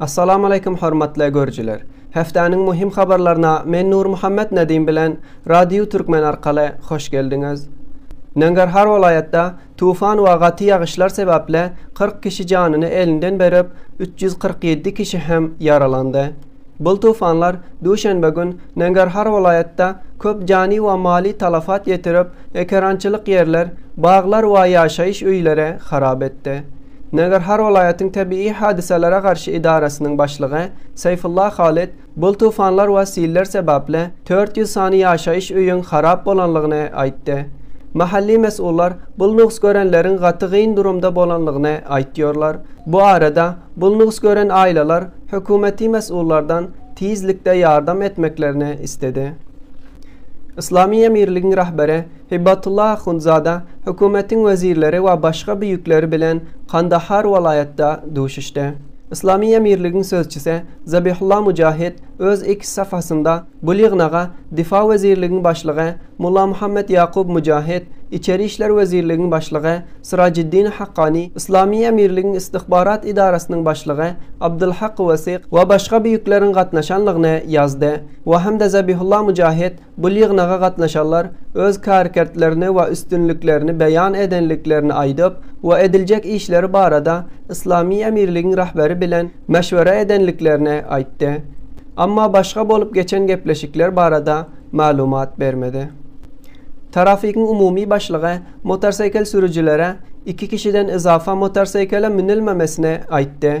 Assalamu aleýkum hormatly görüjiler. Hepdäniň muhim habarlaryna men Nurmuhammet Nedim bilen Radio Türkmen arkaly hoş geldiňiz. Nangarhar welaýatda tufan we gaty ýagyşlar sebäpli kyrk kişi janyny elinden berip, üç ýüz kyrk ýedi kişi hem ýaralandy. Bul tufanlar duşenbe gün Nangarhar welaýatda köp jany we maly talafat ýetirip, ekerançylyk ýerler, baglar we ýaşaýyş öýleri harap etdi. Nagarhar welaýatyň tebigy hadysalara garşy edarasynyň başlygy Saýfulla Halyt bul tufanlar we siller sebäpli dört ýüz sany ýaşaýyş öýüň harap bolanlygyny aýtdy. Mahally mes'ullar bul nugs görenleriň gaty gyn durumda bolanlygyny aýtýorlar. Bu arada bul nugs gören aýlalar hökümeti mes'ullardan tizlikde ýardam etmeklerini isledi. Yslamy emirligiň rahberi Hibatullah Ahundzada hökümetiň wezirleri we başga büýükleri bilen Kandahar welaýatda duşuşdy. Yslamy emirligiň sözçüsi Zabihullah Mujahid öz X safhasynda bul ýygnaga Difa wezirligiň başlygy Mullamuhammet Ýakub Mujahid, Içeri işler wezirligiň başlygy Syrajiddin Hakkani, Yslamy emirligiň Istihbarat edarasynyň başlygy Abdulhak Wesyk we başga büýükleriň gatnaşanlygyny ýazdy we hem-de Zabihullah Mujahid Bu ýygnaga gatnaşanlar öz kärkertlerini we üstünliklerini beýan edenliklerini aýdyp we ediljek işleri barada Yslamy Emirligiň Rahberi bilen meşwere edenliklerini aýtdy. Amma başga bolup geçen gepleşikler barada maglumat bermedi. Tarafigiň umumy başlygy motorseýkel sürüjilere iki kişiden yzapa motorseýkele münülmemesini aýtdy.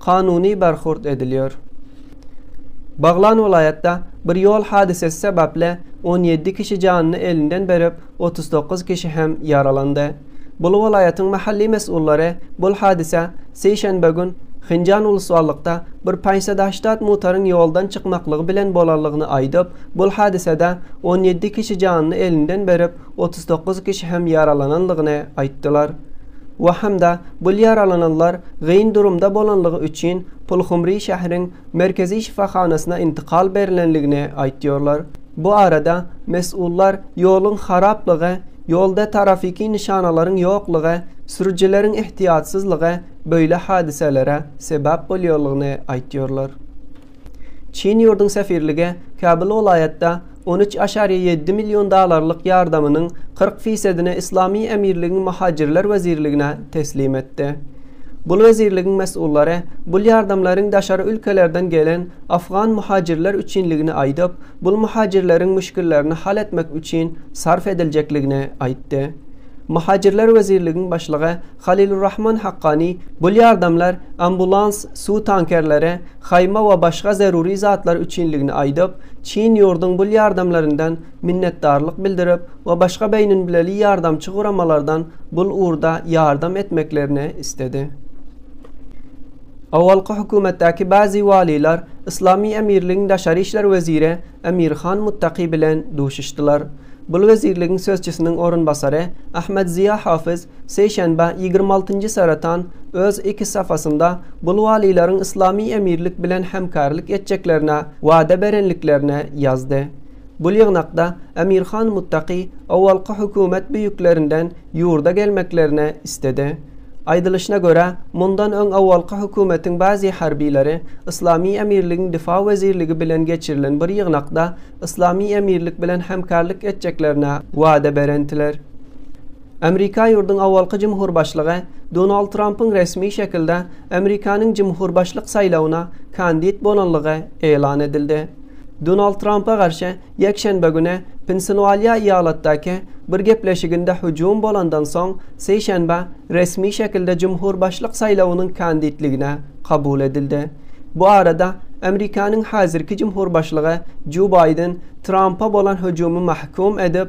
kanuny barhurt edilýär. Baglan welaýatda bir ýol hadysasy sebäpli on ýedi kişi janyny elinden berip, otuz dokuz kişi hem ýaralandy. Bul welaýatyň mahalli mes'ullary bul hadysa sişenbe gün Hinjan uluswallykda bir paýnsadaştat mutaryň ýoldan çykmaklygy bilen bolanlygyny aýdyp, bul hadysada on ýedi kişi janyny elinden berip, otuz dokuz kişi hem ýaralanandygyny aýtdylar we hem-de bul ýaralananlar gyn durumda bolanlygy üçin Pulhumri şäheriň merkezi şypahanasyna intikal berlenligini aýtýarlar. Bu arada mes'ullar ýoluň haraplygy, ýolda tarafiki nyşanalaryň ýoklygy, sürüjileriň ehtiýatsyzlygy böýle hadiselere sebäp bolýarlygyny aýtýarlar. Çin ýurduň sefirlige Kabul welaýatda on üç aşariýe ýedi million dollarlyk ýardamynyň kyrk fisedini Yslamy Emirligiň Muhajirler wezirligine teslim etdi. Bul wezirligiň mes'ullary bul ýardamlaryň daşary ülkelerden gelen afgan muhajirler üçinligini aýdyp, bul muhajirleriň müşgillerini hal etmek üçin sarf ediljekligini aýtdy. Muhajirler wezirligiň başlygy Halilurrahman Hakkani, Bul ýardamlar ambulans, suw tankerleri, haýma we başga zeruri zatlar üçinligini aýdyp, çyn ýurduň bul ýardamlaryndan minnetdarlyk bildirip we başga beýninbileli ýardamçy guramalardan bul ugurda ýardam etmeklerini isledi. Owalky hökümetdäki bäzi walylar Yslamy Emirligiň daşary işler weziri Emirhan Muttaki bilen duşuşdylar. Bul wezirligiň sözçüsiniň orunbasary Ahmed Ziýa Hafiz Seýşenbe, ýigrimi altynjy Saretan öz X safhasynda Bulwalilaryň Yslamy Emirlik bilen hemkärlik etjeklerine wada berendiklerini ýazdy. Bu ýygnakda Emir Han Muttaky owalky hökümet büýüklerinden ýurda gelmeklerini istedi. Aýdylyşyna görä, mundan öň owalky hökümetiň bazi harbileri Yslamy Emirligiň Difa wezirligi bilen geçirilen bir ýygnakda Yslamy Emirlik bilen hemkärlik etjeklerine wada berendiler. Amerika ýurduň awalky jumhurbaşlygy Donald Trampyň resmi şekilde Amerikanyň jumhurbaşlyk saýlawyna kandit bolanlygy ýlan edildi. Donald Trampa garşy ýekşenbe güni Pensilwalýa ýalatdaky bir gepleşiginde hüjüm bolandan soň sişenbe resmi şekilde jumhurbaşlyk saýlawynyň kanditligine kabul edildi. Bu arada Amerikanyň häzirki jumhurbaşlygy Jo Baýden Trampa bolan hüjümi mahkum edip,